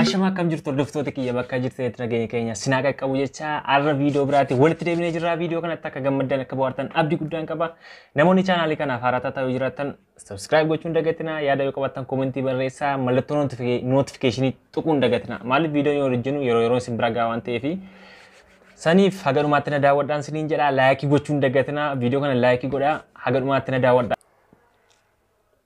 Ashama akkam jirtu hordoftoota kiyya bakka jirtanitti nageenya keenya sinaa qaqqabu jecha har'a viidiyoo biraatti walitti deebinee jirra. Viidiyoo kanatti akka gammaddan akka bohaartan abdii guddaan qaba. Namoonni chaanaalii kanaaf haaraa taatan yoo jiraattan sabiskiraayib gochuun dagatina yaada yoo qabaattan koomentii barreessaa mallattoo nootifikeeshinii tuquun dagatina. Maaliif viidiyoon yoo hojjennu yeroo yeroo isin bira gahaa waan ta'eef saniif haga dhumaatti na daawwadhaan siniin jedha laayikii gochuun dagatina viidiyoo kana laayikii godhaa haga dhumaatti na daawwadhaa.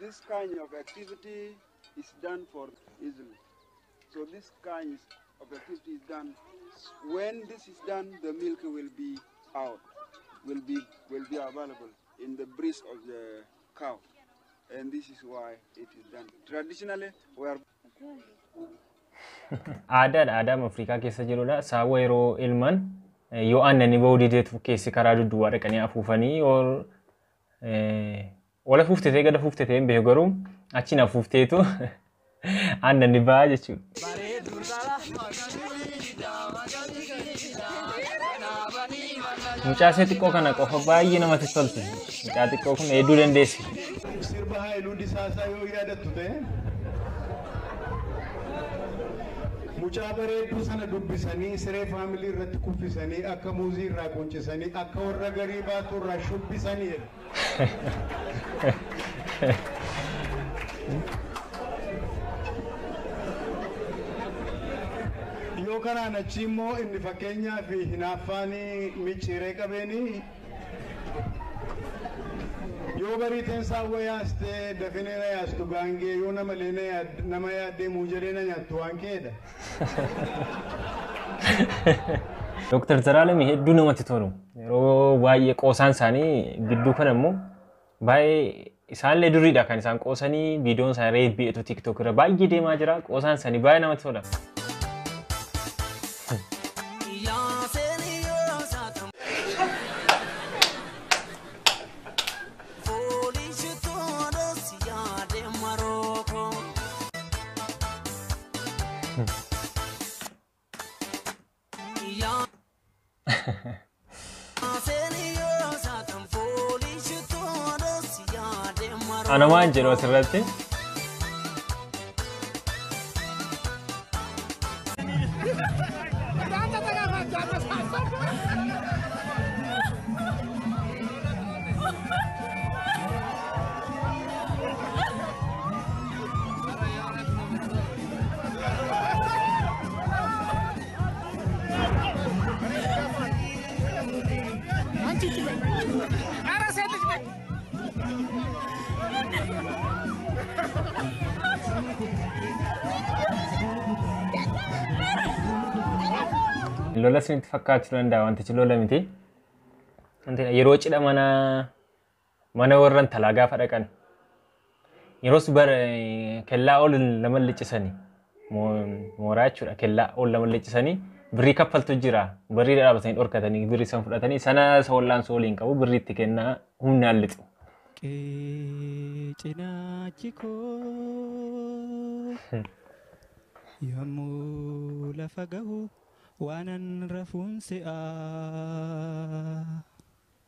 This kind of activity is done for easily. So this kind of activity is done. When this is done, the milk will be out, will be will be available in the breast of the cow, and this is why it is done. Traditionally, we are Aadaadha aadaama Afrikaa keessa jirudha. Saawwa yeroo ilman eh, yoo aannanii ba'uu dideetu keessi karaa dudduwaa dhaqanii afuufanii yoo Ol afuuftetee gad afuuftetee hin beeku garuu achiin afuufteetu aannan ni ba'a jechuudha. Mucaasee xiqqoo kana qofa baay'ee namatti tolti. Mucaa xiqqoo kun hedduu dandeessi. Sirba Haayiluu Disaasaa yoo yaadattu ta'e. Mucaa bareedduu sana dubbisanii siree family irratti kuffisanii akka muuzii irraa qunccisanii akka warra garii baattuu irraa shubbisanii jedha. Yoo kanaan achii immoo inni fakkeenyaaf hinaaffaan micciiree qabeenii. Yoo barii tensaa wa yaastee dafine na yaastu gaangee yoo namalee na yaad nama yaaddee muujaree na nyaattu waan keedha. Dooktar Zaraalami hedduu namatti tolu. Yeroo baay'ee qoosaan isaanii gidduu kana immoo Baay'ee isaanillee duriidha kan isaan qoosanii viidiyoon isaanii reef bi'eetu tiktok irra baay'ee deemaa jira qoosaan isaanii baay'ee namatti tola. Ana waan jedhu asirratti. Lola isinitti fakkaachuu danda'a wantichi lola miti. Wanti yeroo cidha mana Mana warra intalaa gaafa dhaqan. Yeroos bara kellaa ol lama liccisani. Mooraa jechuudha kellaa ol lama liccisani. Birrii kaffaltu jira. Birrii dhaabatanii dhorkatanii birrii san fudhatanii sana isa wal'aansoo waliin qabu birrii itti kennaa humnaan lixu. Qe'ee cinaachi koo yommuu lafa gahu waanan rafuun se'aa.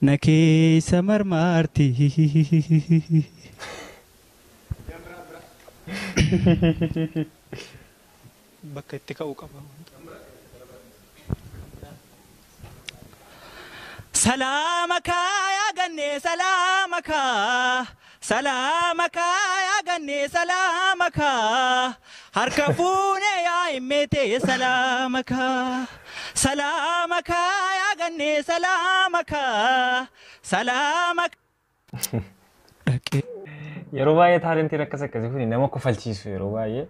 na keessa marmaarti. Bakka itti ka'u qaba. Salaama kaa yaa gannee salaama kaa. Salaama kaa yaa gannee salaama kaa harka fuunee yaa himmee tee salaama kaa salaama kaa yaa gannee salaama kaa salaama Yeroo baay'ee taalentiin akkas akkasii kun nama kofalchiisu yeroo baay'ee.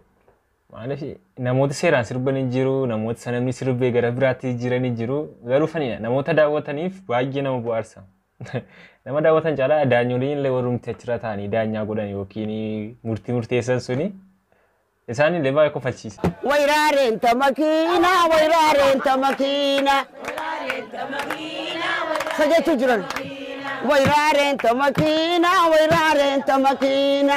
Maaliif namoota seeraan sirban hin jiru, namoota sanamni sirbee gara biraatti jiran hin jiru. Garuu fanidha. Namoota daawwataniif baay'ee nama bu'aarsa. Nama daawwatan caalaa daanyoliin illee warrumti achirra taa'anii daanyaa godhan yookiin murtii murteessan suni isaan illee baay'ee kofalchiisa. Wayrareen ta makiina, wayrareen ta makiina. Sa jechuu jiran. Wayrareen ta makiina, wayrareen ta makiina.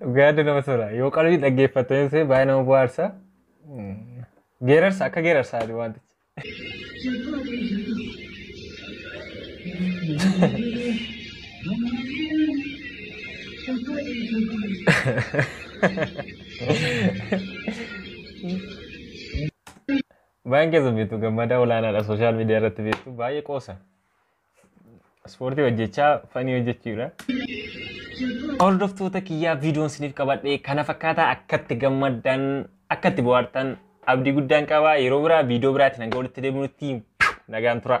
Dhugaa hedduu namatti tola. Yoo qalbii dhaggeeffattoonni ta'e baay'ee nama bohaarsa. Mm. Geerarsa akka geerarsaa jiru wantichi. Baay'een keessa beektu gammadaa olaanaadha sooshaal miidiyaa irratti beektu baay'ee qoosa. Ispoortii hojjechaa fanii hojjechuudha. Hordoftoota kiyyaa viidiyoon isiniif qabadhe kana fakkaataa akkatti gammaddan akkatti bohaartan abdii guddaan qaba yeroo biraa viidiyoo biraatiin hanga walitti deebinutti nagaan tura.